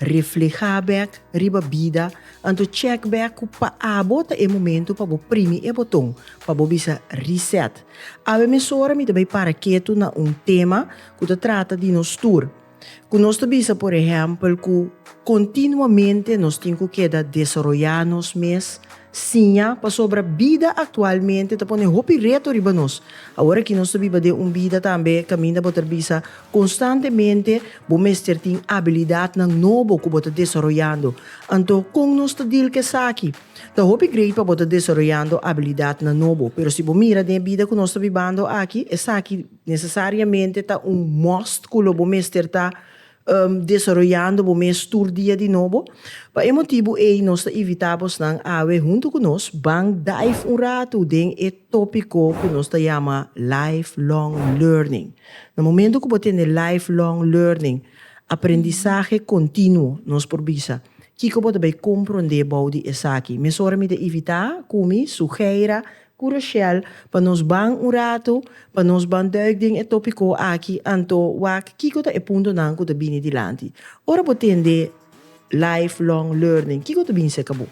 Reflehá bèk riba bida, anto chèk bèk ku pa abo ta e momentu pa bo primi e boton pa bo bisa Reset. Awe mesora mi ta bai para ketu na un tema ku ta trata di nos tur, ku nos ta bisa por ehèmpel ku kontinuamente nos tin ku keda desaroyá nos mes, siña pasobra bida aktualmente ta pone hopi reto riba nos. Aworakí nos ta biba den un bida tambe kaminda bo ta bisa konstantemente Bo mester tin abilidatnan nobo ku bo ta desaroyando. Anto, kon nos ta deal ku esaki? Ta hopi grei pa bo ta desaroyando abilidatnan nobo, pero si bo mira den e bida ku nos ta bibando aki, esaki nesesariamente ta un must ku lo bo mester ta desaroyando bo mes tur dia di nobo. Pa e motibu ei nos ta invitá bosnan awe huntu ku nos ban dive un ratu den e tópiko ku nos ta yama Lifelong Learning. Na momento cu bo tene lifelong learning, aprendisahe continuo, nos por bisa, kico bo ta bay compronde bou di esaki. Mesora mi ta invita cu mi, Sugeira, cu Rochelle pa nos ban un rato, pa nos ban duik den e topico aki, anto wak kico ta e puntonan cu ta bini dilanti. Ora bo tende lifelong learning, kico ta bin cerca bo?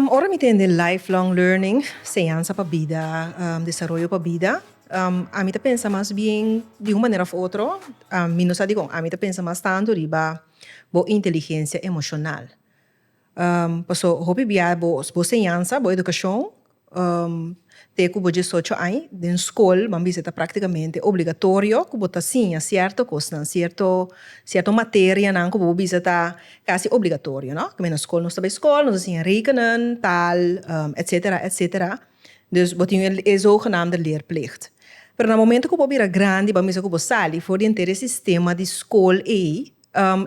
Ora mi tende lifelong learning, señansa pa bida, desaroyo pa bida, ami ta pensa mas bien di un manera of otro, mi no sa dikon, ami ta pensa mas tantu riba bo inteligencia emocional. Paso hopi bia bo señansa, bo educacion Te ku bo diesocho aña den skol bo a bisa ta praktikamente obligatorio ku bo ta siña sierto kosnan, sierto sierto materianan ku bo a bisa ta kasi obligatorio no? Kende na skol nos ta bai skol nos a siña rekenen, taal etsetera etsetera dus bo tin e zogenaamde leerplicht. Pero na momento ku bo a bira grandi bo a bisa ku bo sali for di entera e sistema di skol ei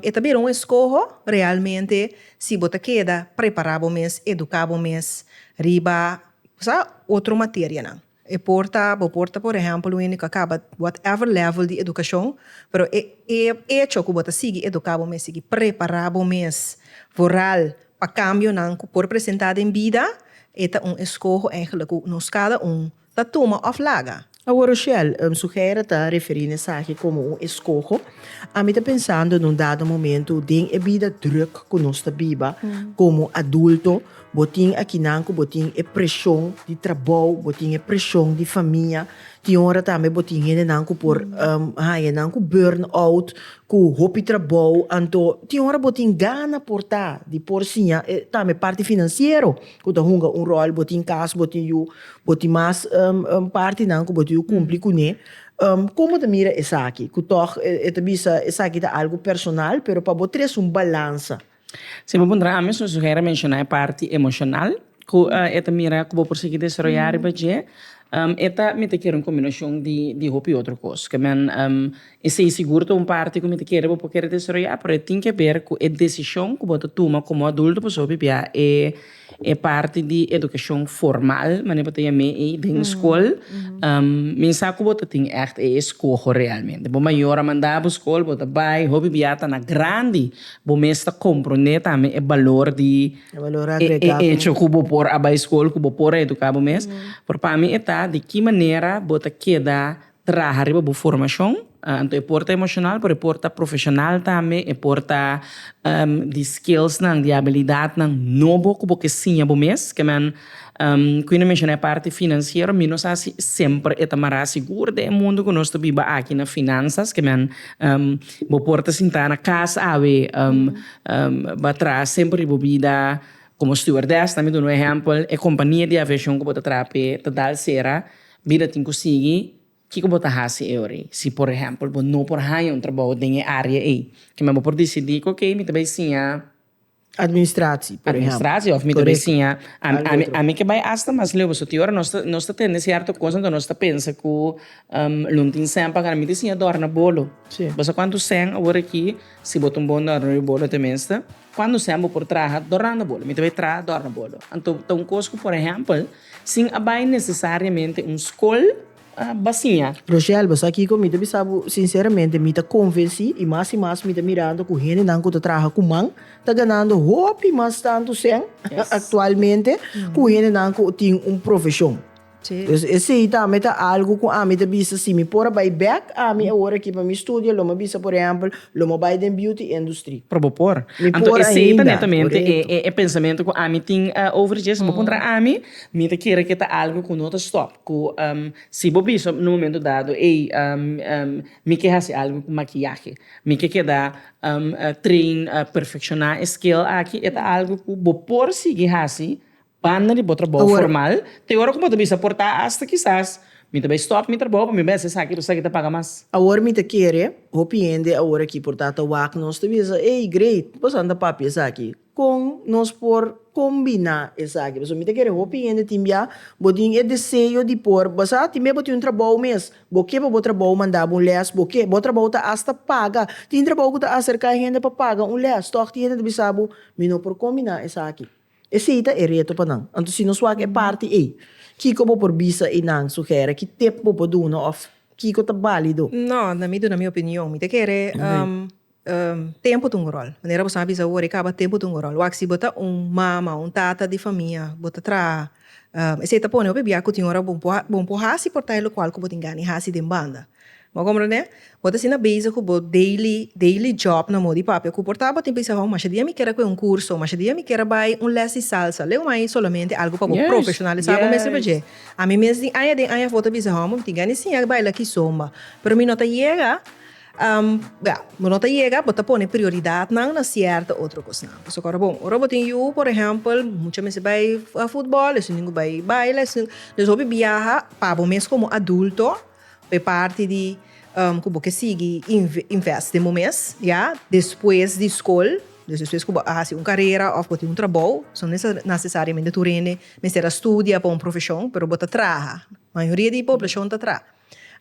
E ta bira un eskoho realmente si bo ta keda prepará bo mes, eduká bo mes riba sa otro materianan. E por ta, bo por ta por ehèmpel un hende ku a kaba whatever level di edukashon, pero e e echo ku bo ta sigui eduká bo mes, sigui prepará bo mes vooral pa kambionan ku por presentá den bida, e ta un eskoho, èigelik ku nos kada un Ta tuma of laga? Awo Rochelle, un sugere ta referi na esaki komo un eskoho. Ami ta pensando na un dado momento den e bida druk ku nos ta biba komo adulto, bo tin akinan ku bo tin e preshon di trabou, bo tin e preshon di famia, tin ora tambe bo tin hendenan ku por haña nan ku burn out, ku hopi trabou, anto tin ora bo tin gana por ta di por siña tambe parti finansiero. ku ta hunga un ròl bo tin kas bo tin yu bo tin mas partinan ku bo tin yu kumpli kuné komo ta mira esaki ku tòg e ta bisa esaki ta algu personal pero pa bo tres un balansa. Si bo puntra ami su suheri a menshoná e parti emoshonal ku e ta mira ku bo por sigui desaroyá riba dje e ta mi ta kere un kombinashon di hopi otro kos. Esei sigur ta un parti ku mi ta kere bo por kere desaroyá, pero e tin ke ber ku e desishon ku bo ta tuma komo adulto pasobra bo a bibia e parti di edukashon formal, mane bo ta yam'é ei, den skol. Mi sa ku bo ta tin ègt e eskoho realmente. Bo mayor a manda bo skol, bo ta bai, hopi bia ta na grandi, bo mes ta komprondé tambe e balor di e echo ku bo por a bai skol, ku bo por a eduká bo mes. Pero pa mi e ta di ki manera bo ta keda. Traha riba bo formashon. Anto e por ta emoshonal pero e por ta profeshonal tambe, e por ta di skillsnan, di abilidatnan nobo ku bo ke siña bo mes. Ke men ku i na menshoná e parti finansiero, mi no sa si semper e ta mará sigur den e mundu ku nos ta biba aki na finansas, ke men bo por ta sintá na kas awe ba traha semper di bo bida komo stewardess, ta mi duna un ehèmpel, e kompania di aviashon ku bo ta traha p'e ta dal sera Mira tin ku sigui kiko bo ta hasi e ora ei. Si por ehèmpel bo no por haña un trabou den e área ei, kimen bo por disidí ku oke, mi ta bai siña administrasie, por ehèmpel, òf mi ta bai siña algu otro. Ami ke bai asta mas leu pasobra tin ora nos ta nos ta tende sierto kos anto nos ta pensa ku lo no tin sèn pa gana. Mi ta siña dòrna bolo. Bo sa kuantu sèn awor aki si bo ta un bon dòrnador di bolo te mester? Cuando sea bo por traha dorando bolo, mi ta bay traha dorando bolo. Anto ta un cos cu por ehempel sin a bay necesariamente un scol ba siña. Roselva, sa kico? Mi ta bisa bo sinceramente, mi ta convenci y mas y mas mi ta mira anto cu hendenan cu ta traha cu man ta ganando hopi mas tanto cen actualmente cu hendenan cu tin un profesion. Pues esei tambe ta algu ku ami ta bisa si mi por a bai bek ami awor aki pa mi studio, lo mi a bisa por ehèmpel, lo mi a bai den beauty industry. Pero bo por. Mi Anto por esei ta ainda, netamente e korekto. e pensamentu ku ami tin over dje. Si bo puntra ami, mi ta kere ku e ta algu ku no ta stòp, ku si bo bisa un momento dado, ey, mi ke hasi algu ku makiyahe, mi ke keda train, perfekshoná e skill aki, e ta algu ku bo por sigui hasi Banda di bo trabou formal, te ora ku bo ta bisa por ta asta kisas mi ta bai stòp mi trabou pa mi bai hasi esaki pasobra esaki ta paga mas. Awor mi ta kere hopi hende awor aki por ta ta wak nos ta bisa, ey Great bo sa ta papia esaki kon nos por kombiná esaki pasobra mi ta kere hopi hende tin bia bo tin e deseo di por basa tin bia bo tin un trabou mes bo ke pa bo trabou manda bo un lès bo ke bo trabou ta asta paga tin trabou ku ta aserka hende pa paga un lès tòg tin hende ta bisa bo mi no por kombiná esaki. Esei ta e reto pa nan. Anto si nos wak e parti ei, kiko bo por bisa einan, sugere, ki tip bo por duna of kiko ta balido? No, na mi duna mi opinion, mi ta kere tempo ta un rol. Manera boso a bisa awor e kaba, tempo ta un rol. Wak si bo ta un mama o un tata di famia, bo ta traha, esei ta pone hopi bia ku tin ora bon por hasi por ta e lokual ku bo tin gana di hasi den banda. Bo komprende? Bo ta asina bezig ku bo daily, daily job na modi papia ku por ta. Bo tin bisa, Ho, masha dia mi kere kue un kurso, masha dia mi kere bai un lès di salsa. Leu mai solamente algu pa bo profeshonalisá bo mes riba dje. Ami mes den aña den aña bo ta bisa, Ho, mi tin gana di siña di baila aki zomba. Pero mi no ta yega, bia, bo no ta yega, bo ta pone prioridatnan na sierto otro kosnan. Pasobra ku ora bon, ora bo tin yu, por ehèmpel, mucha mester bai futbòl, esun tin ku bai baila, esun. Pues hopi biaha pa bo mes komo adulto. Bo e parti di ku bo ke sigui invest den bo mes ya despues di skol, despues ku bo a hasi un karera òf bo tin un trabou, bo no nesesariamente tur hende mester a studia pa un profeshon pero bo ta traha, mayoria di poblashon ta traha.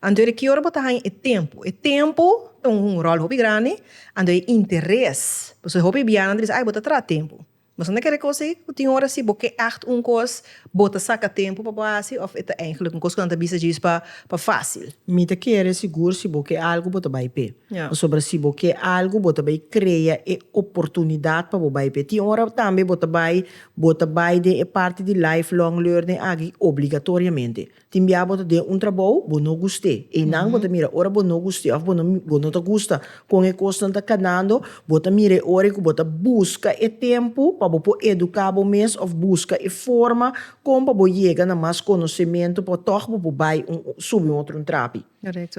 Anto ki ora bo ta haña e tempu? E tempu ta un ròl hopi grandi, anto e interes, pasobra hopi bianan ta bisa ai bo ta traha tempu Nos a na kere kosa ei ku tin ora si bo ke ègt un kos bo ta saka tempu pa bo hasi òf e ta eihglik un kos ku nan ta bisa djis pa fásil? Mi ta kere sigur si bo ke algu bo ta bai p'e. Pasobra si bo ke algu bo ta bai krea e oportunidat pa bo bai p'e. Tin ora tambe bo ta bai bo ta bai den e parti di lifelong learning aki obligatoriamente. Tin biaha bo ta den un trabou bo no gust'é. Einan bo ta mira ora bo no gust'é òf bo no ta gusta kon e kosnan ta kanando, bo ta mira e ora ku bo ta buska e tempu pa bo por eduká bo mes òf buska e forma kon pa bo yega na mas konosementu pa tòg bo por bai subi un otro un trapi.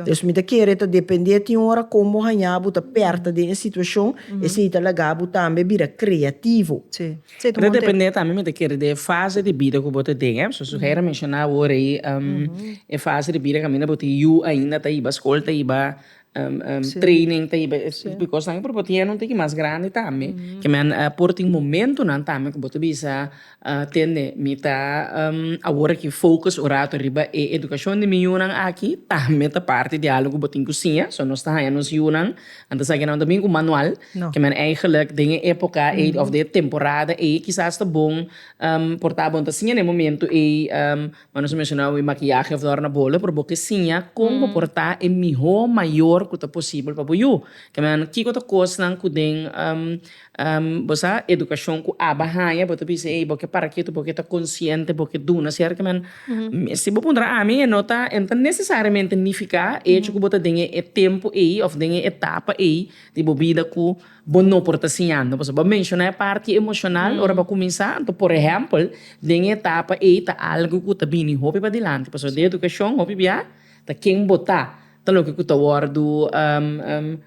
Pues mi ta kere ta depende tin ora kon bo haña bo ta pèrta den e situashon esei ta laga bo tambe bira kreativo. Ta depende tambe mi ta kere den e fase di bida ku bo ta den eh soos Herra menshona awor ei e fase di bida kaminda bo tin yu ainda ta iba skol ta iba training ta iba esei kosnan por bo tin ya nan tin ki mas grandi tambe kimen por tin momentunan tambe ku bo ta bisa Tende, mi ta awor aki focus un rato riba e educacion di mi yunan aki, tambe ta parti di algo cu bo tin cu siña, so nos ta haña nos yunan, nan ta sa kinan ta bin cu manual, ke men eigenlijk den e epoca ey of den e temporada ey kisas ta bon por ta bo ta siña den e momento ey, ma nos a menciona awe maquillaje of dòrna bolo, pero bo ke siña con bo por ta e miho mayor cu ta posibel pa bo yu, ke men kiko ta cosnan cu den. Bo sa, edukashon ku Abba haña, bo ta bisa ei, bo ke para ketu, bo ke ta konsiente, bo ke duna sertamente. Si bo puntra ami, e no ta, e no ta nesesariamente nifiká e echo ku bo ta den e tempu ei òf den e etapa ei di bo bida ku bo no por ta siñando. Pasobra bo a menshoná e parti emoshonal ora bo a kuminsá. Anto, por ehèmpel, den e etapa ei ta algu ku ta bini hopi padilanti, pasobra den edukashon hopi bia Ta ken bo ta, ta loke ku ta wòrdu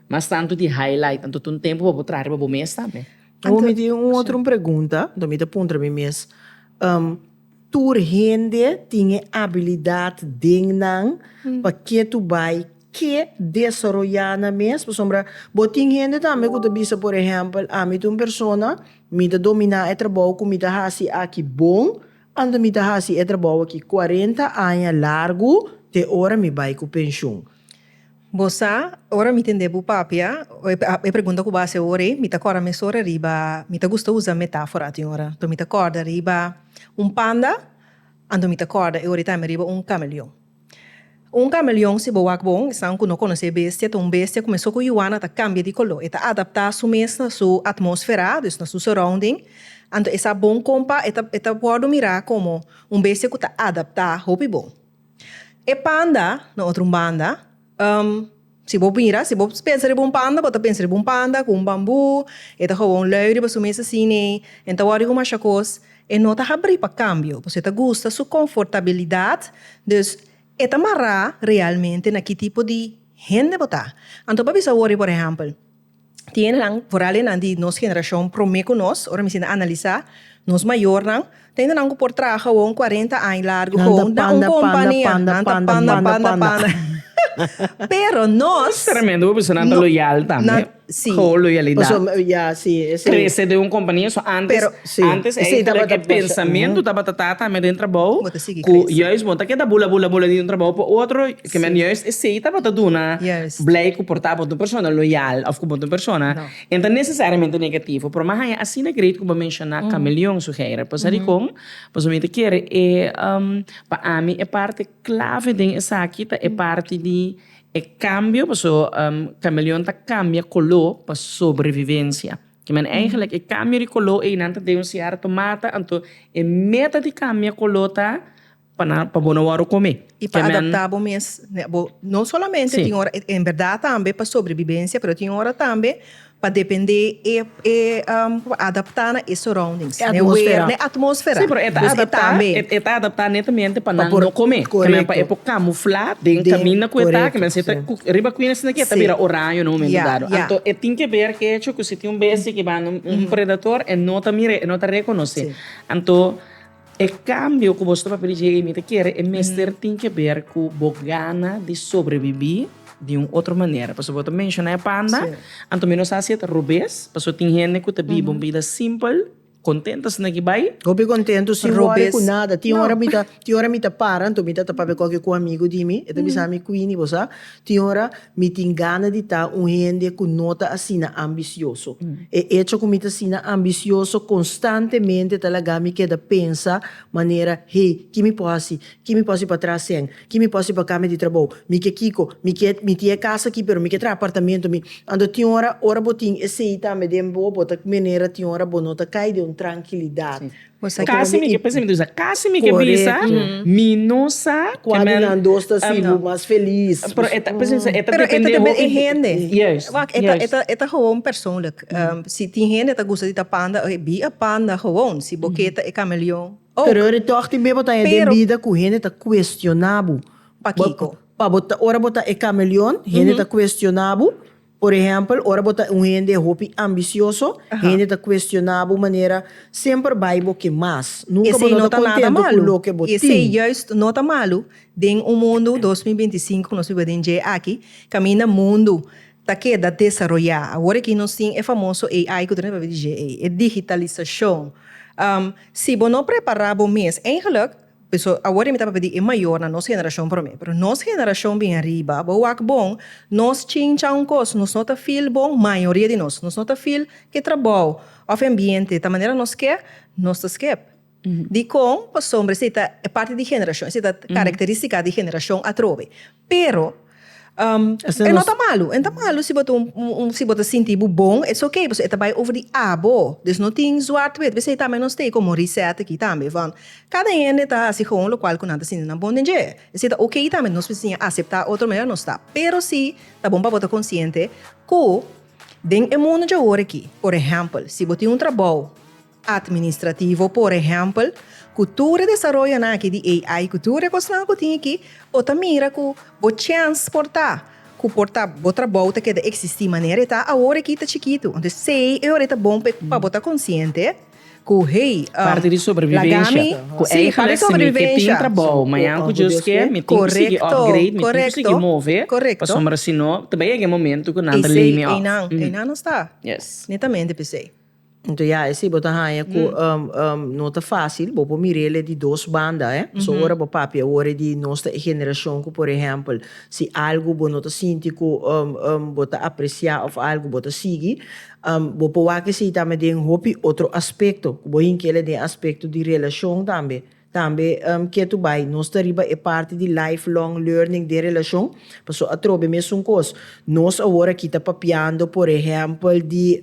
mas tantu di highlight, anto ta un tempu pa bo traha riba bo mes tambe. Awor mi tin un otro un pregunta, anto mi ta puntra mi mes, tur hende tin e abilidat den nan, pa ke tur bai ke desaroyá nan mes? Pasobra bo tin hende tambe ku ta bisa por ehèmpel, ami ta un persona, mi ta dominá e trabou ku mi ta hasi aki bon, Ando mi ta hasi e trabou aki cuarenta aña largu te ora mi bai cu pensioen. Bo sa, ora mi tende bo papia e pregunta cu bo hasi awor ei, mi ta corda mesora riba, mi ta gusta usa metafora tin ora, anto mi ta corda riba un panda, anto mi ta corda e ora e ta ami riba un cameleon. Un kameleon, si bo wak bon, esnan ku no konosé e bestia, ta un bestia ku mesun ku Juana ta kambia di koló. E ta adaptá su mes na su atmósfera, dus na su surrounding. Anto e sa bon kon pa e ta e ta wòrdu mirá komo un bestia ku ta adaptá hopi bon. E panda, na otro un banda, Si bo mira, si bo pensa riba un panda, bo ta pensa riba un panda ku un bambú, e ta hoba un lei riba su mes asina, e no ta wòri ku masha kos. E no ta habrí pa kambio, pasobra e ta gusta su konfortabilidat. Dus, e ta mará realmente na ki tipo di hende bo ta. Anto bo a bisa wòri, por ehèmpel, Tiendenan, vooral enan di nos generashon promé ku nos, ora mi sinta analisá, nos mayornan, ta hende nan ku por traha awor un kuarenta aña largu gou na un kompania. Nan ta panda, panda, panda. Pero nos. Tremendu, bo bisa nan ta loyal tambe. Gou loyalidat. Krese den un kompania, so antes, antes e e pensamentu tabata ta tambe den trabou ku yùis bo ta keda bula, bula, bula di un trabou pa otro. Pasobra men juist esei tabata duna blij ku por ta bo ta un persona loyal òf ku bo ta un persona ke no ta nesesariamente negativo. Pero mi haña asina great ku bo menshona kameleon sugeirá. Pasobra dikon? Pasobra mi ta kere e pa ami e parti klave den esaki ta e parti di e kambio pasobra kameleon ta kambia koló pa sobrevivensia. Kimen eigentlik e kambio di koló ei nan ta den un sierto mata anto e meta di kambia koló ta Pa nan, pa bo no wòrdu komé. I pa adaptá bo mes ne bo. No solamente tin ora, en bèrdat tambe pa sobrebibensia, pero tin ora tambe pa dependé e e adaptá na e surroundings, na e wer, na e atmósfera. Sí, pero e ta adaptá, e ta adaptá netamente pa nan no komé, pa nan e por kamuflá den kaminda ku e ta, ku nan si ta ku riba ku nan si na ke ta bira oraño na un momentu dado. Anto e tin ke ber ke hecho ku si tin un bestia ku banda un predator e no ta mira, e no ta rekonosé. Anto. E kambio ku boso ta papia di dje i mi ta kere e mester tin ke ber ku bo gana di sobrebibí di un otro manera. Pasobra bo ta menshoná e panda, anto mi no sa si e ta robes, pasobra tin hende ku ta biba un bida simpel, kontentu asina ki bai. Hopi kontentu sin wòri ku nada. Tin ora mi ta tin ora mi ta para anto mi ta ta papia koke ku un amigu di mi, e ta bisa mi, Queenie, bo sa? Tin ora mi tin gana di ta un hende ku no ta asina ambisioso. E echo ku mi ta asina ambisioso konstantemente ta laga mi keda pensa manera, Hey, ki mi por hasi? Ki mi por hasi pa traha sèn? Ki mi por hasi pa kambia di trabou? Mi ke kiko? Mi ke, mi tin e kas aki pero mi ke traha apartamento. Mi. Anto tin ora, ora bo tin esei tambe den bo, bo ta manera tin ora bo no ta kai den un trankilidat. Casi mi ke pensa mi ta bisa casi mi ke bisa mi no sa cua di nan dos ta sibi mas feliz pero e ta pensa mi sa e ta depende hopi di hende wak e ta gewoon persoonlijk si tin hende ta gusta di ta panda e bi a panda gewoon si bo ke ta e cameleon ok pero ora toch tin beba ta den bida cu hende ta cuestiona bo pa kiko ora bo ta e cameleon hende ta cuestiona bo. Por ehèmpel, ora bo ta un hende hopi ambisioso, hende ta kuestioná bo manera, semper bai bo ke mas. Nunka bo no ta kontentu ku loke bo tin. Esei juist no ta malu. Den un mundu dos mil binti sinku ku nos biba den dje aki, kaminda mundu ta keda desaroyá, awor aki nos tin e famoso AI ku ta na pabia di dje ei, e digitalisashon. Si bo no prepará bo mes, eigenlik, Pasobra awor mi ta papia di e mayor na nos generacion prome, pero nos generacion bin ariba bo wak bon, nos chincha un cos, nos no ta feel bon, mayoria di nos, nos no ta feel cu e trabao of e ambiente ta manera nos kier, nos ta skep. Dicon? Pasobra esei ta e parti di generacion, esei ta caracteristica di generacion atrobe. Pero e no ta malu, e no ta malu si bo ta un si bo ta sinti bo bon it's okay pasobra e ta bai over di abo dus no tin zwart wit bisei tambe nos stay como reset aki tambe want cada hende ta haci gewoon locual cu nan ta sinti nan bon den dje bisey ta okay tambe nos mester siña acepta otro manera nos ta pero si ta bon pa bo ta consciente cu den e mundo dje awor aki por ejempel si bo tin un trabou. Atministrativo, por ehèmpel, ku tur e desaroyonan aki di AI ku tur e kosnan ku tin aki, bo ta mira ku bo chèns por ta ku por ta bo trabou ta keda eksistí manera e ta awor aki ta chikitu. Anto esei e ora e ta bon pa bo ta konsiente ku hey, lagami, sí, par di sobrebivensha. Korekto, korekto, korekto. Esei einan einan nos ta netamente p'esei. Anto ya e si bo ta haña cu no ta facil, bo por mir'e le di dos banda, eh. Pasobra ora bo papia awor di nos ta e generacion cu por ehempel si algo bo no ta sinti cu bo ta aprecia of algo bo ta sigui, bo por wak esey tambe den hopi otro aspecto, cu bo hinca el den aspecto di relacion tambe. Tambe ketu bai nos ta riba e parti di lifelong learning den relashon, paso atrobe mesun kos nos awor a kita papiando por ehèmpel di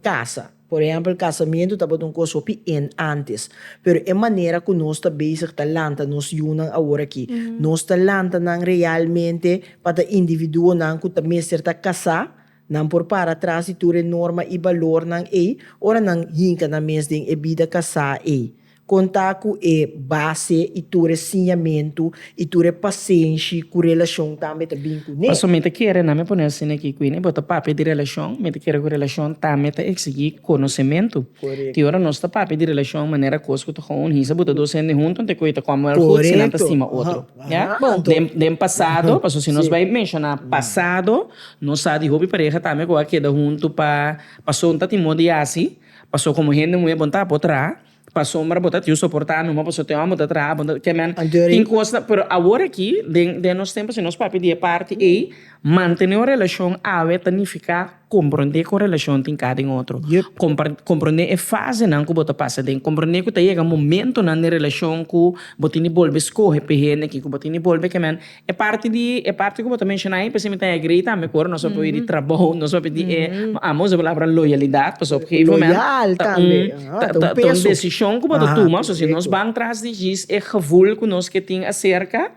kasa, por ehèmpel kasamentu tabata un kos hopi en ántes, pero e manera ku nos ta bezig ta lanta nos yunan awor aki, nos ta lanta nan realmente pa ta individuonan ku ta mester ta kasá, nan por para tras di tur e norma i balornan ei, ora nan hinka nan mes den e bida kasá ei, Konta ku e base i tur e siñamentu i tur e pasenshi ku relashon tambe ta bin ku ne. Paso mi ta kere, na mi a pone asina aki, Queenie, bo ta papia di relashon, mi ta kere ku relashon tambe ta eksigí konosementu. Tin ora nos ta papia di relashon manera kos ku ta kon un hisa, bo ta dos hende huntu, anto e koi ta kòm wèl gud si nan ta stima otro. Ya? Bon, den den pasado, paso si nos bai menshoná pasado, nos sa di hopi pareha tambe ku a keda huntu pa paso un ta tin modi hasi, paso komo hende muhé bo no ta apotr a. pasobra bo ta tin soportá numa pasobra te hòmber bo ta traha bo ta ke men tin kos na pero awor aki den den nos tempo si nos papia di e parti ei mantené un relashon awe ta nifiká komprondé kon relashon tin ka den otro kompar komprondé e fasenan ku bo ta pasa den komprondé ku ta yega momentunan den e relashon ku bo tin di bolbe skohe p'e hende ku bo tin di bolbe kemen E parti di e parti ku bo ta menshona ahi p'esei mi ta agree tambe ku ora nos papia oye di trabou nos papia di e amo usa palabra loyalidat paso op gegeven moment ta un ta ta ta un desishon ku bo ta tuma so si nos ban tras di djis e gevul ku nos ke tin aserka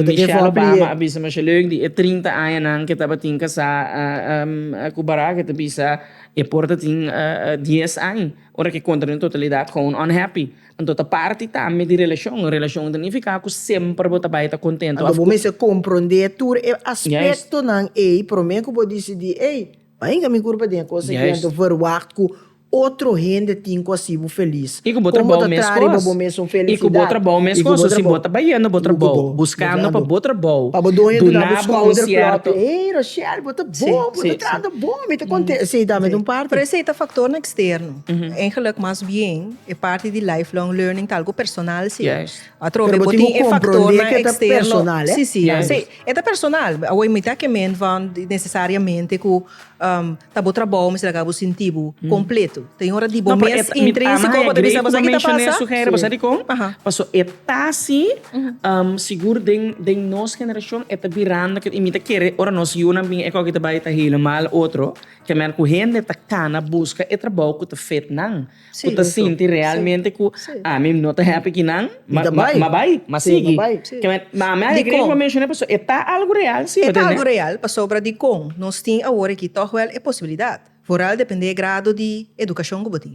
Michelle Obama a bisa masha leuk di e trinta añanan ke tabatin kasá ku Barack e ta bisa e por ta tin dies aña ora ke kontra den totalidat gou unhappy. Anto ta parti tambe di relashon. Un relashon ta nifiká ku semper bo ta bai ta kontentu. Anto bo mester komprondé tur e aspektonan ei promé ku bo disidí, Ey, bai hinka mi kurpa den e kos aki anto verwagt ku otro hende tin ku hasi bo felis. I ku bo trabou mes kos. I ku bo trabou mes kos. So si bo ta bayendo bo trabou, buskando pa bo trabou, duna bo un sierto. Ey, Rashel, bo ta bon, bo ta trata bon, mi ta konten. Esei tambe ta un parti. Pero esei ta faktornan eksterno. Engeluk mas bien. E parti di lifelong learning ta algu personal si. Atrobe bo tin e faktornan eksterno. Si si si e ta personal awor mi ta ke ment van nesesariamente ku ta bo trabou mester a kabu sinti bo kompletu ta yu ora di bo mes intrinsiko bo ta bisa boso aki ta pasa boso di kon paso e ta si sigur den den nos generashon e ta birando i mi ta kere ora nos yunan bin e koki ta bai ta helemaal otro kemer ku hende ta kana buska e trabou ku ta fit nan. ku ta sinti realmente ku ami no ta hèpi ki nan, ma ma bai, ma sigui. Ma ami alegre ku a menshon'é pasobra e ta algu real si. E ta algu real pasobra dikon nos tin awor aki tòg wèl e posibilidat, foral dependé e grado di edukashon ku bo tin.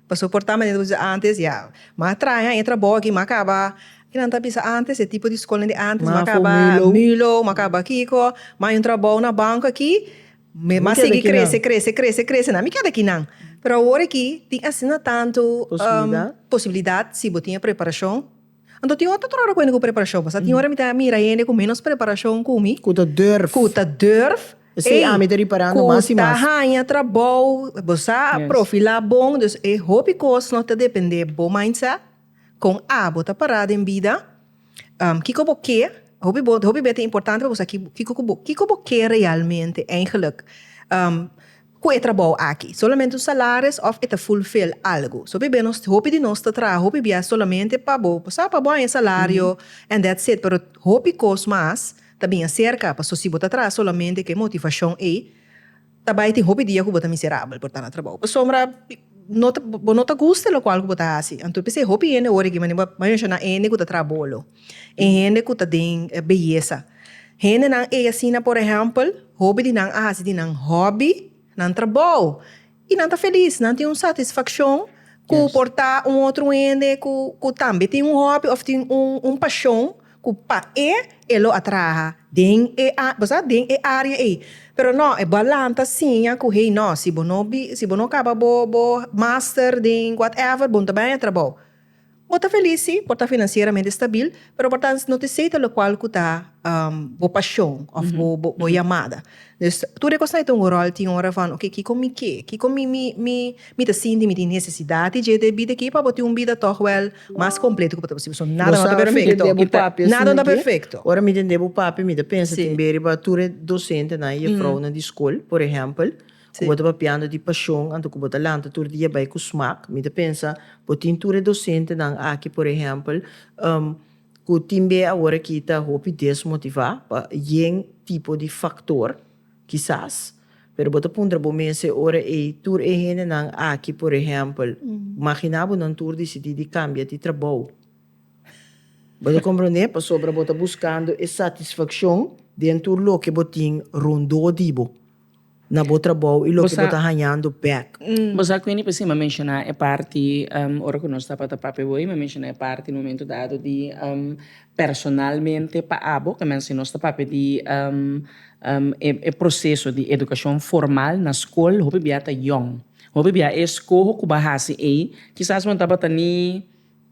Pasobra por ta manera ku bo ta bisa antes, ya, m'a traha e trabou aki, m'a kaba, ke nan ta bisa antes, e tipo di skolnan di antes, m'a kaba Mülo, m'a kaba kiko, m'a haña un trabou na banko aki. M'a sigui crece, crece, crece, crece nan. Mi keda aki nan. Pero awor aki tin asina tantu posibilidad si bo tin e preparacion. Anto tin ora ta tro recuente cu preparacion pasobra tin ora mi ta mira hende cu menos preparacion cu mi. Cu ta durf. Cu ta durf. Ey, cu ta haya trabou. Bo sa, a profila bon. Dus e hopi cos no ta depende bo mindset. Kon abo ta pará den bida? Kiko bo ke? Hopi bo, hopi b'e ta importante pa bo sa kiko ku bo kiko bo ke realmente eigenlik ku e trabou aki. Solamente un salaris òf e ta fulfil algu? So hopi b'e nos hopi di nos ta traha hopi bia solamente pa bo bo sa pa bo haña e salario and that's it pero hopi kos mas ta bin aserka paso si bo ta traha solamente ku e motivashon ei Ta bai tin hopi dia ku bo ta miserabel por ta na trabou pasobra no ta bo no ta gusta e lokual ku bo ta hasi anto p'esei hopi hende ora aki mane bo a menshoná hende ku ta traha bolo e hende ku ta den beyesa hendenan ei asina por ehèmpel hopi di nan a hasi di nan hòbi nan trabou i nan ta felis nan tin un satisfakshon ku por ta un otro hende ku ku tambe tin un hòbi òf tin un un pashon. Ku pae e lo a traha den e, bo sa, den e área ei. Pero no, e bo a lanta siña ku hey no, si bo no bi, si bo no kaba bo, bo master den whatever, bo no ta baña trabou. Bo ta felis sí, por ta finansieramente stabil, pero por ta no te seita lokual ku ta bo pashon òf bo, bo yamada. Dus tur e kos na e ta un ròl tin ora van oke kiko mi ke? Kiko mi mi mi mi ta sinti mi tin nesesidat di dje debí de ke pa bo tin un bida tòg wèl mas kompleto ku bo ta posibel? So nada no ta perfekto i ta nada no ta perfekto. Ora mi tende bo pape mi ta pensa tin be riba tur e dosentenan i e fraunan di skol por ehèmpel ku bo ta papiando di pashon anto ku bo ta lanta tur dia bai ku smak mi ta pensa bo tin tur e dosentenan aki por ehèmpel. Ku tin be awor aki ta hopi desmotivá pa yen tipo di faktor, kisas. Pero bo ta puntra bo mes e ora ei, tur e hendenan aki por ehèmpel, maginá bo nan tur disidí di kambia di trabou? Bo ta komprondé? Pasobra bo ta buskando e satisfakshon den tur loke bo tin rondó di bo. na bo trabou y loke bo ta hañando bek. Bo sa cu mi p'e sima menciona e parti ora cu nos tabata papia awor, y mi a menciona e parti e momento dado di personalmente pa abo, ta mester nos ta papia di e proceso di educacion formal na scol, hopi bia ta yong, hopi bia e escoho cu bo a haci ey kisas bo no tabata ni.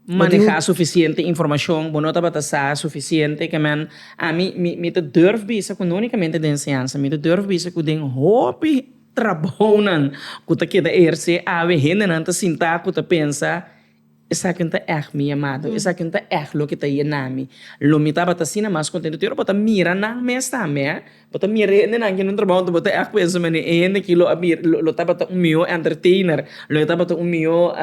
manehá sufisiente informashon, bo no tabata sa sufisiente. Ke men, ami, mi, mi ta durf bisa ku no únikamente den enseñansa, mi ta durf bisa ku den hopi trabounan ku ta keda ersé awe hendenan ta sintá ku ta pensa, Esaki no ta ègt mi yamado, esaki no ta ègt loke ta yena mi. Lo mi tabata asina mas kontento, te ora bo ta mira nan mes tambe, Bo ta mira e hendenan ki no trabou anto bo ta ey kueso mane e hende ki lo a bira lo tabata un mihó entertainer lo e tabata un mihó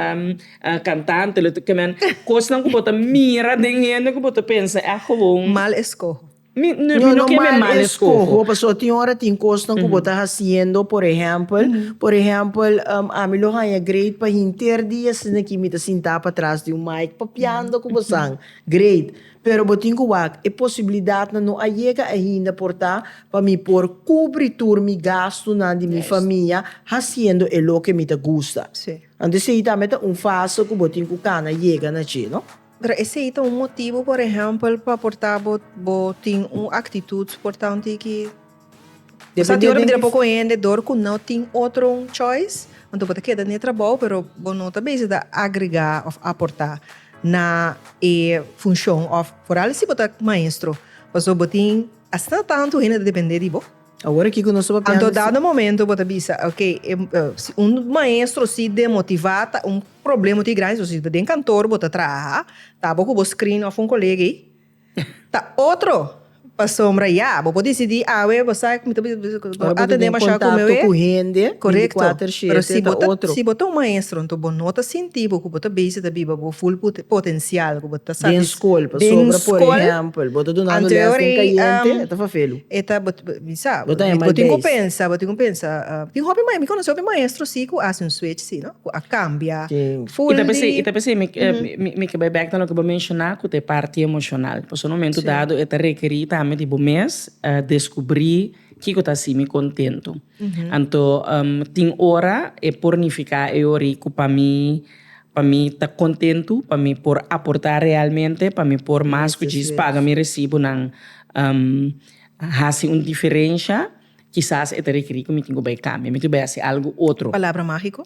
cantante lo e kimen kosnan ku bo ta mira den hende ku bo ta pensa ey agowon mal eskoho no kimen mal eskoho paso tin ora tin kosnan ku bo ta hasiendo por ehèmpel por ehèmpel ami lo haña great pa hinter di asina ki mi ta sinta patras di un mic papiando ku bosan great Pero bo tin ku wak, e posibilidatnan no a yega ainda por ta pa mi por kubri tur mi gastunan di mi famia hasiendo e loke mi ta gusta. Anto esei tambe ta un fase ku bo tin ku kana yega na dje, no? Pero esei ta un motibu, por ehèmpel, pa por ta bo tin un aktitut por ta un tiki. Esaki ora mi dra poko hende dor ku no tin otro choice, anto bo ta keda na e trabou pero bo no ta bese ta agregá òf aportá na e funshon òf foral si bo ta maestro pasobra bo tin asina tantu hende ta dependé di bo. Awor kiko nos ta papia? Anto dado momento bo ta bisa, ok, si un maestro si demotivá ta un problema oti grandi, so si ta den kantor bo ta traha, ta bo ku bo screen òf un kolega ei Ta otro pasobra ya bo por disidi awe bo sa mi ta bisa bisa bo no atende masha ku mi awe korekto pero si bo ta si bo ta un maestro nto bo no ta sinti bo ku bo ta base ta biba bo ful potensial ku bo ta den skol anto e ora ei e ta bo bisa bo tin ku pensa bo tin ku pensa tin hopi mi konosi hopi maestro si ku a hasi un switch si no. cu a cambia full di. I ta pensé mi, mi ke bai bek na loke bo menciona cu ta e parti emocional. Pasobra un momento dado e ta requeri tambe di bo mes descubri kico ta haci mi contento. Anto tin ora e por nifica e ora y cu pa mi, pa mi ta contento, pa mi por aporta realmente, pa mi por mas cu djis paga mi recibonan haci un diferencia. Kisas e ta rekerí ku mi tin ku bai kambia, mi tin ku bai hasi algu otro. Palabra mágiko?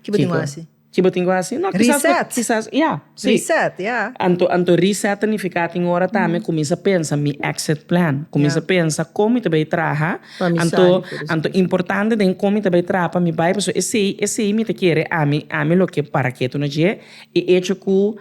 Ke bo tin ku hasi? Ke bo tin ku hasi? No, kisas bo. Reset! Kisas, ya, si. Reset, ya. Anto, anto reset ta nifiká tin ora tambe kuminsá pensa mi exit plan. Kuminsá pensa kon mi ta bai traha. Pa mi sali por esaki. Anto, anto importante den kon mi ta bai traha pa mi bai pasobra esei, esei mi ta kere ami, ami loke para ketu na dje i echo ku.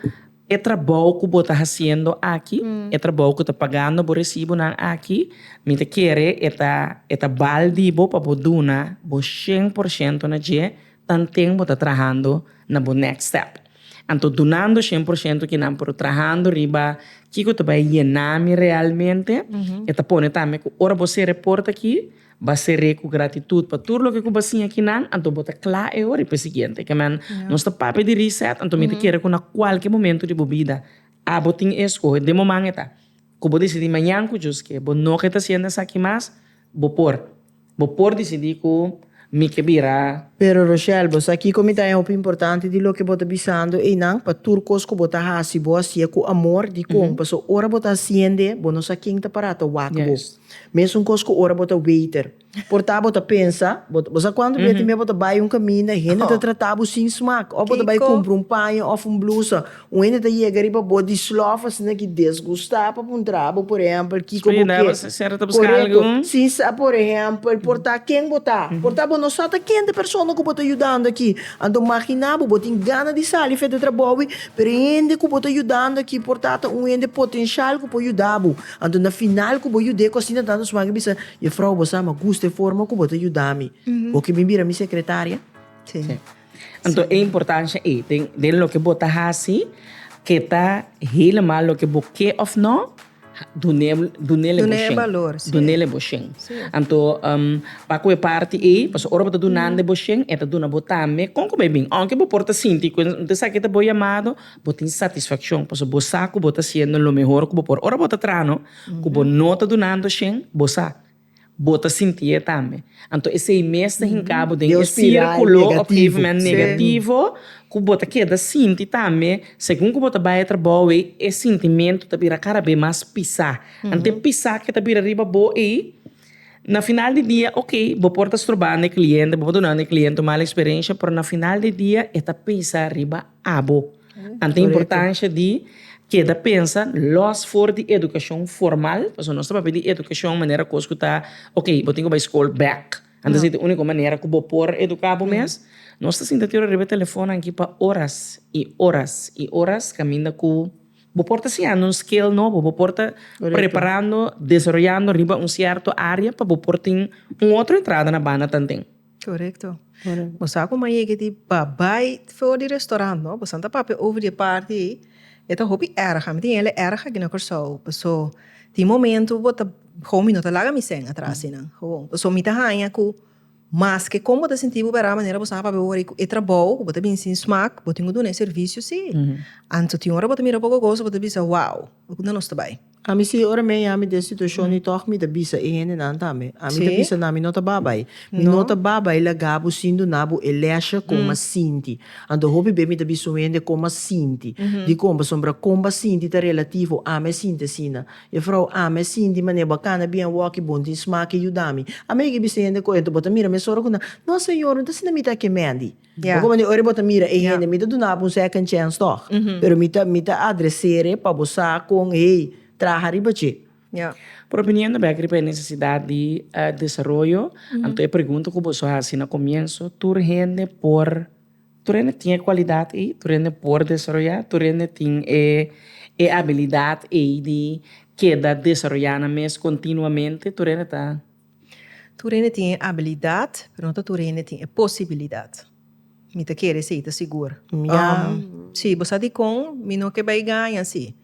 E trabou ku bo ta hasiendo aki, e trabou ku ta pagando bo resibunan aki, mi ta kere e ta e ta bal di bo pa bo duna bo shen por shento na dje tanten bo ta trahando na bo next step. Anto dunando shen por shento kinan pero trahando riba kiko ta bai yena mi realmente e ta pone tambe ku ora bo sere porta aki, Ba seré ku gratitut pa tur loke ku ba siña kinan, anto bo ta kla e ora i pa e siguiente. Keman nos ta papia di reset, anto mi ta kere ku na kualke momentu di bo bida abo tin e eskohe. Den moman eta ku bo disidí mañan ku djus ke bo no ke ta hasiendo esaki mas, bo por. Bo por disidí ku mi ke bira. Pero Rochelle, bo sa kiko mi ta e hopi importante di loke bo ta bisando einan? Pa tur kos ku bo ta hasi, bo hasié ku amor. Dikon? Pasobra ora bo ta hasiende, bo no sa ken ta pará ta wak bo. Mesun kos ku ora bo ta weiter. Por ta bo ta pensa, bo ta, bo sa kuantu bier tin bier bo ta bai un kaminda i hende ta trata bo sin smak, òf bo ta bai kumpra un paña òf un blusa, un hende ta yega riba bo di slòf asina ki desgustá pa puntra bo por ehèmpel kiko bo ke, korekto, sin sa por ehèmpel por ta ken bo ta, por ta bo no sa ta ken di persona ku bo ta yudando aki, anto maginá bo, bo tin gana di sali fes di trabou i pero e hende ku bo ta yudando aki por ta ta un hende potenshal ku por yuda bo. Anto na final ku bo yud'é kosina tando su mari bisa, Yefrou, bo sa, mi a gusta e forma ku bo ta yuda mi. Bo ke bin bira mi sekretaria? Sí. Anto e importansha ei den den loke bo ta hasi ke ta helemal loke bo ke òf nò, dun'é dun'é le bo shen. Dun'é e balor, sí. Dun'é le bo shen. Sí. Anto pa ku e parti ei, pasobra ora bo ta duna nan den bo shen, e ta duna bo tambe. Kon ku bo a bin? Aunke bo por ta sinti ku no ta esaki ta bo yamado, Bo tin satisfaccion pasobra bo sa cu bo ta haciendo lo mehor cu bo por. Ora bo ta traha no, cu bo no ta dunando shen, bo sa, bo ta sinti'e tambe. Anto esey mes ta hinca bo den e circulo op een moment negativo cu bo ta keda sinti tambe segun cu bo ta bay e trabao ey e sintimento ta bira cada bes mas pisa. Ante e pisa ke ta bira riba bo ey. Na final di dia ok bo por ta stroba na e cliente bo por duna na e cliente un mal experiencia pero na final di dia e ta pesa riba abo anto importancia di keda pensa los for di educacion formal pasobra nos ta papia di educacion manera cos cu ta ok bo tin cu bay school back anto esey ta e unico manera cu bo por educa bo mes nos ta sinta ater riba e telefonan aki pa horas y horas y horas caminda cu. Bo por ta siñando un skill nobo, bo por ta preparando, desaroyando riba un cierto área pa bo por tin un otro entrada na banda tanten. Correcto. Bo sa cu mañe ke di babai for di restaurant, no? Bo san ta papia over di e parti ei. E ta hopi erg. Mi tin hele erg aki na Curaçao. Paso tin momento bo ta, Gomi no ta laga mi seng atras di nan. Gewoon. Paso mi ta haña cu. Maske kon bo ta sinti bo bera manera bo sa pa wari ku e trabou ku bo ta binsi in smak bo tin ku duna e servisio si. Anto tin ora bo ta mira poko kos bo ta bisa wow unda nos ta bai. Ami si ora mi a yami den situashon i tog mi ta bisa e hendenan tambe ami ta bisa nan mi no ta babai mi no ta babai laga bo sin duna bo e lèsha kon a sinti anto hopi be mi ta bisa un hende kon a sinti dikon pasobra kon bo a sinti ta relativo ami a sinti asina. E frou Ame sinti manera bo a cana bien awaki bon tin smaki yudami a megi bisa hende cu ento bo ta mira mesora cu nan no señor no ta asina mi ta ke mendi bo con manera ora bo ta mira e hende mi ta dunabo un second chance tog pero mi ta mi ta adresere pa bo sa con hey traha riba che. Por opinion bek riba e necesidad di desaroyo anto e pregunta cu bo su haci na comienso tur hende por. Tur hende tin e kualidat ei, tur hende por desaroyá, tur hende tin e e abilidat ei di keda desaroyá nan mes kontinuamente, tur hende ta. Tur hende tin e abilidat, pero no ta tur hende tin e posibilidat. Mi ta kere esei ta sigur. Sí, bo sa dikon mi no ke bai gaña así?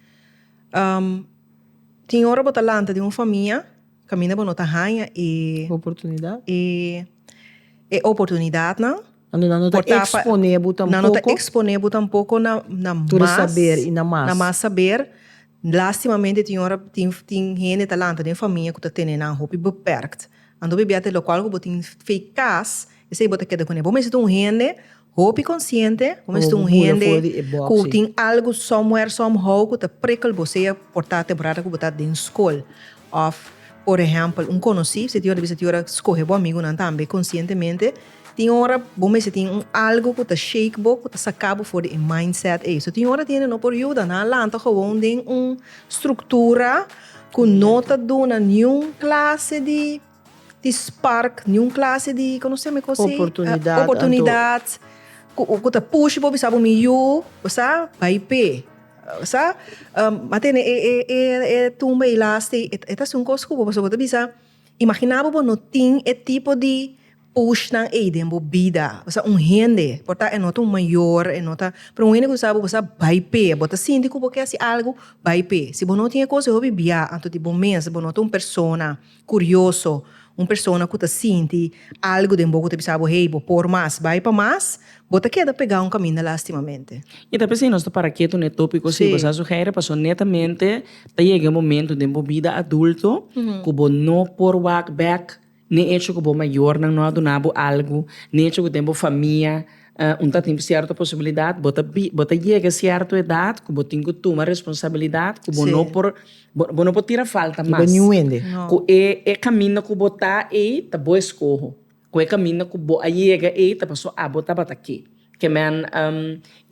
Tin ora bo ta lanta den un famia kaminda bo no ta haña e. Oportunidat. E oportunidatnan. Nan no ta exponé bo tampoco. Nan no ta exponé bo tampoco na mas. Tur e saber y na mas. Na mas saber. Lastimamente tin ora tin tin hende ta lanta den famia cu ta tene nan hopi beperkt. Anto bibia te locual cu bo tin fe cas esey bo ta keda cune. Bo mester ta un hende hopi consciente. Bo mester ta un hende cu tin algo somewhere somehow cu ta prikkel bo sea por ta temporada cu bo ta den scol of por ehempel un conoci. Tin ora ta bisa tin ora scohe bo amigunan tambe conscientemente. Tin ora bo mester tin un algo ku ta shake bo, ku ta saka bo for di e mindset ei. So tin ora tin e no por yuda, nan a lanta gewoon den un struktura ku no ta duna niun klase di di spark, niun klase di kono se me kos ei? Oportunidat. Oportunidat ku ta push bo bisa bo mi yu sa bai p'e sa a tene e e e tumba ei last ei. E ta hasi un kos ku bo pasobra bo ta bisa. Imaginá bo bo no tin e tipo di pushnan ei den bo bida. Bo sa un hende, por ta e no ta un mayor, e no ta, pero un hende ku sa bo bo sa bai p'e. Bo ta sinti ku bo ke hasi algu, bai p'e. Si bo no tin e kos, e hopi bia anto di bo mes. Bo no ta un persona kurioso, un persona ku ta sinti algu den bo ku ta bisa bo, hey, bo por mas, bai pa mas, Bo ta keda pegá un kaminda lástimamente? I ta p'esei nos ta para ketu na e tópiko así. Bo sa sugeere pasobra netamente ta yega e momentu den bo bida adulto ku bo no por wak bèk, ni echo ku bo mayornan no a duna bo algu, ni echo ku den bo famia un ta tin sierto posibilidat. Bo ta bo ta yega sierto edat ku bo tin ku tuma responsabilidat ku bo no por bo no por tira falta mas. Ku e kaminda ku bo ta ei ta bo eskoho. Cu e caminda cu bo a yega ey ta paso abo tabata ke? Ke men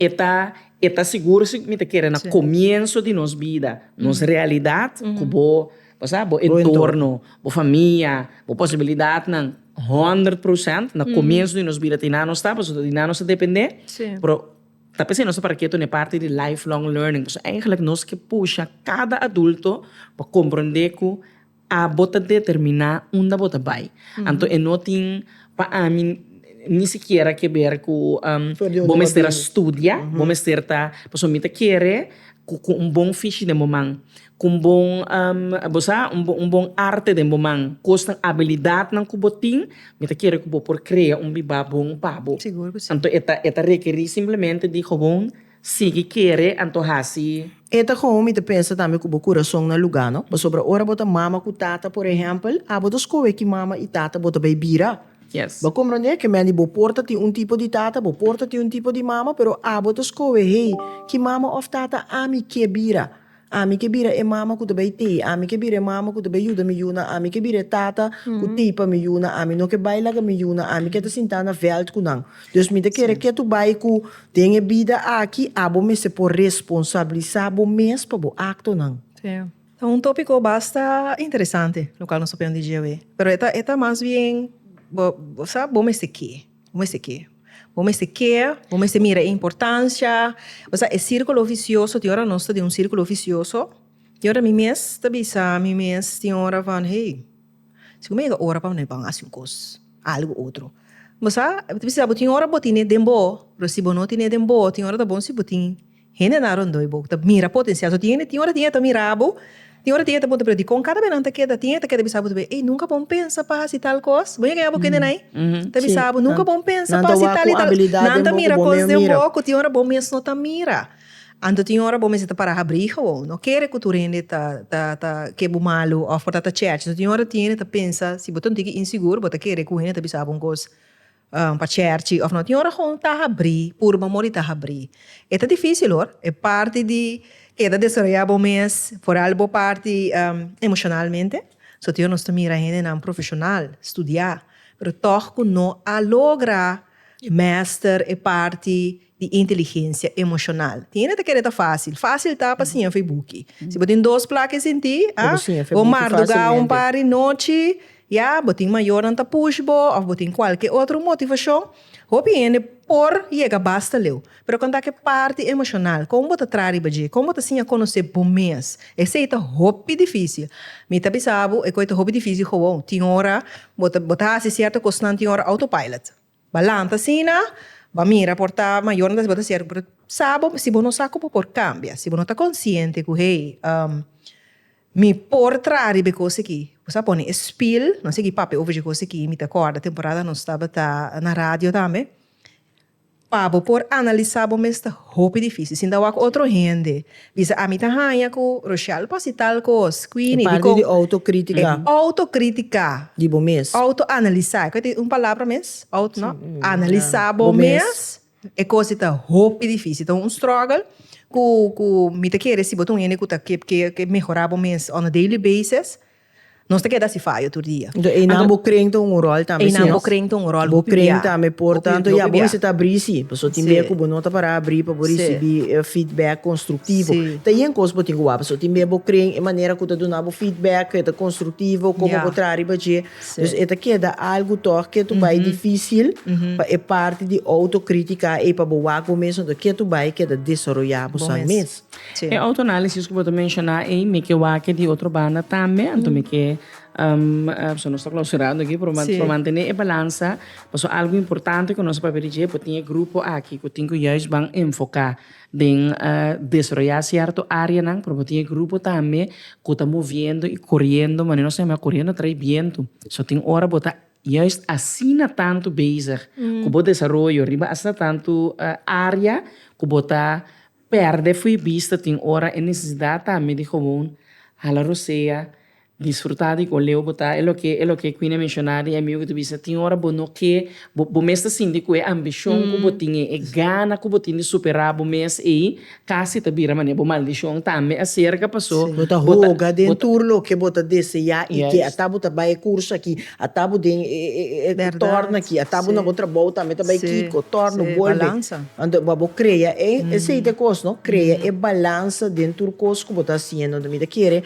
e ta e ta sigur si mi ta kere na comienso di nos bida, nos realidad cu bo osea bo entorno, bo famia, bo posibilidadnan hundred procent na comienso di nos bida tin nan nos ta paso tin nan nos ta depende pero ta p'e si nos ta para keto n'e parti di life long learning pasobra eigenlic nos ke pusha cada adulto pa comprende cu. A Bo ta determiná unda bo ta bai. Anto e no tin pa ami ni sikiera ke ber ku bo mester a studia, bo mester ta, pasobra mi ta kere ku ku un bon fishi den bo man, ku un bon bo sa, un bon arte den bo man, kosnan, abilidatnan ku bo tin, mi ta kere ku bo por krea un bibá bon pa bo. Anto e ta e ta rekerí simplemente di gewoon. Sigui kere anto hasi. E ta komo mi ta pensa tambe ku bo kurason na lugá, no? Pasobra ora bo ta mama ku tata, por ehèmpel, a bo ta skohe ki mama i tata bo ta bai bira. Bo a komprondé? Ke men di bo por ta tin un tipo di tata, bo por ta tin un tipo di mama, pero a bo ta skohe, hey, ki mama òf tata ami ke bira? Ami ke bira e mama ku ta bai tei, ami ke bira e mama ku ta bai yuda mi yuna, ami ke bira e tata ku tei pa mi yuna, ami no ke bai laga mi yuna, ami ke ta sinta na vèlt ku nan. Dus mi ta kere ke tur bai ku den e bida aki abo mester por responsabilisa bo mes pa bo aktonan. Si. Ta un topiko basta interesante lo kual nos ta pone di dje awe. Pero e ta mas bien bo sa bo mester ke. Bo mester ke. Bo mester ke, bo mester mira e importancia. Pasá e círculo vicioso, tin ora nos ta den un círculo vicioso. Tin ora mi mes ta bisa mi mes, tin ora van hey, si cu mi a yega ora pa bo haci un cos, algo otro. Bo sa, bo ta bisa, bo tin ora bo tene den bo, pero si bo no tene den bo, tin ora ta bon si bo tin. Hendenan rondó e bo ta mira potensial. So tin hende tin ora tin e ta mira bo, tin ora tin e ta puntra, pero dikon kada bes nan ta keda? Tin e ta keda bisa bo ta bay, ey nunka bon pensa pa hasi tal kos. Bo yega bo kendenan ey ta bisa bo, nunka bon pensa pa hasi tal y tal. Nan ta mira kos den bo ku tin ora bo mes no ta mira. Anto tin ora bo mester ta para habrí gewoon. No kere ku tur hende ta ta ta ke bo malu òf por ta ta chèchi. So tin ora tin hende ta pensa, si bo ta un tiki insigur bo ta kere ku hende ta bisa bo un kos Pa cherchi of no tin un ragon ta habrí purba mor di ta habrí. E ta difísil hoor, e parti di keda desaroyá bo mes, foral bo parti emocionalmente, so tin nos ta mira hendenan profesional, studiá, pero tog ku no a logra mester e parti. di inteligensia emoshonal. Tin e ta kere ta fásil. Fásil ta pa siña Feybuki. Si bo tin dos plaka e sintí, a, bo mardugá un par di nochi, ya, bo tin mayornan ta push bo òf bo tin kualke otro motivashon, hopi hende por yega basta leu. Pero kon ta ke parti emoshonal? Kon bo ta traha riba dje? Kon bo ta siña konosé bo mes? Esei ta hopi difísil. Mi ta bisa bo e ku e ta hopi difísil, gewoon. Tin ora bo ta bo ta hasi sierto kosnan, tin ora autopilot. Ba lanta asina, ba mira por ta mayornan ta siba siervo, pero sa bo si bo no sa ku bo por kambia, si bo no ta konsiente ku hey mi por traha riba e kos aki, bo sa pone e spil, no a sigui papia over dje kos aki, mi ta kòrda temporada nos tabata na radio tambe, pa bo por analisa bo mes ta hopi difisil, sinta wak otro hende. Bisa, Ami ta haña ku Rochelle por si tal kos. Quindi, E parti di autokritika. E autokritika. Di bo mes. Autoanalisá. Ku e ta un palabra mes? Auto, no? Analisá bo mes. E kos ei ta hopi difísil. Ta un struggle ku, ku mi ta kere si bo ta un hende ku ta ke mehorá bo mes on a daily basis. Nos ta keda si fayo tur dia. Enton einan bo kren ta un rol tambe. Einan bo kren ta un rol. Bo kren tambe por tanto ya bo mester ta abri si. Pasobra tin bia ku bo no ta para abri pa bo risibi feedback konstruktivo. Ta yen kos bo tin ku wak pasobra tin bia bo kren e manera ku ta duna bo feedback e ta konstruktivo komo bo traha riba dje. Dus e ta keda algu tòg ke tu bai difísil pa e parti di outokritiká ei pa bo wak bo mes. Enton ke tu bai keda desaroyá boso mes. E autoanálisis ku bo ta menshoná ei mi ke wak di otro banda tambe anto mi ke pasobra nos ta klausurando aki pero mi por mantené e balansa pasobra algu importante ku nos a papia di dje por tin e grupo aki ku tin ku yais ban enfoká den desaroyá sierto áreanan pero bo tin e grupo tambe ku ta moviendo i koriendo manera nos ta yama koriendo trai bientu so tin ora bo ta yais asina tantu bezig ku bo desaroyo riba asina tantu área ku bo ta. Perde fui bista tin ora e necesidad tambe di gewoon hala rosea, disfruta di cu leu bo ta, e loke e loke Queenie a menciona di e amigo cu ta bisa tin ora bo no ke bo bo mes ta sinti cu e ambicion cu bo tin ei, e gana cu bo tin di supera bo mes ei casi ta bira manera bo maldicion tambe acerca paso bo ta bo ta bo ta. Bo ta hoga den tur loke bo ta desea y ke ata bo ta bay e curso aki. A tabu den e torna aki, a tabu na bo trabou tambe ta bai kiko, torno, bolbe. Anto pa bo krea e, esei ta e kos no, krea e balansa den tur kos ku bo ta hasiendo. Anto mi ta kere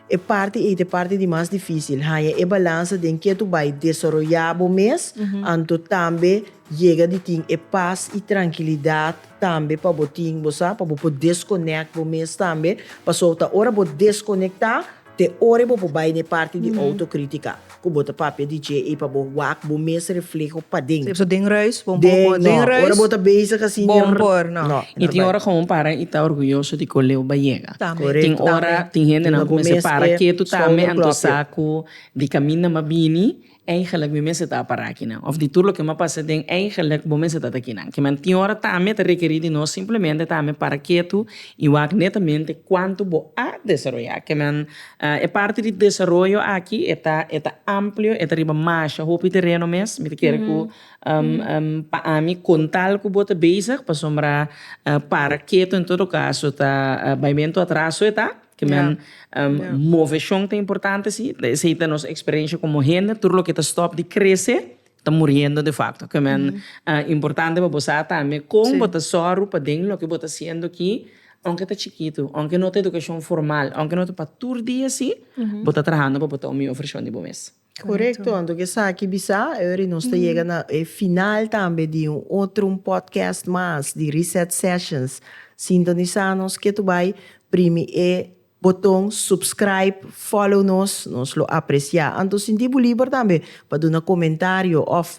e parti ei ta e parti di mas difisil, haña e balansa den ke tur bai desaroyá bo mes, anto tambe yega di tin e pas i trankilidat tambe pa bo tin, bo sa, pa bo por deskonèkt bo mes tambe, pasobra ta ora bo deskonekta. Te ora bo por bai na e parti di autocrítica cu bo ta papia di dje i pa bo wak bo mes reflejo paden. So den reis bo no por den reis. No, ora bo ta bezig asina. Bo no por no. No. I tin ora cu un para i ta orguyoso di cu Leo bai yega. Tambe. Tin ora tin hendenan cu mester para ketu tambe anto sa cu di caminda m'a bini. Eigenlijk mi mester ta a para akinan. Of di tur loke mi a pasa den eigenlijk bo mester ta ta akinan. Kiman tin ora ta ami e ta rekerí di nos simplemente ta ami para ketu i wak netamente kuantu bo a desaroyá. Kiman e parti di desaroyo aki e ta e ta amplio, e ta riba masha hopi tereno mes. Mi ta kere ku pa ami kontal ku bo ta bezig pasobra para ketu en todo kaso ta baimentu atraso e ta. Ke men moveshon ta importante si, esei ta nos eksperensha komo hende, tur loke ta stòp di krese ta muriendo de fakto. Ke men importante pa bo sa tambe kon bo ta sòru pa den loke bo ta hasiendo aki, ounke ta chikitu, ounke no ta edukashon formal, ounke no ta pa tur dia si, bo ta trahando pa bo ta un mihó vershon di bo mes. Korekto, anto ku esaki bisa e ora di nos ta yega na e final tambe di un otro un podcast mas di Reset Sessions. Sintonisá nos ke tu bai, primi e boton subscribe, follow nos, nos lo apresiá. Anto sinti bo liber tambe pa duna komentario òf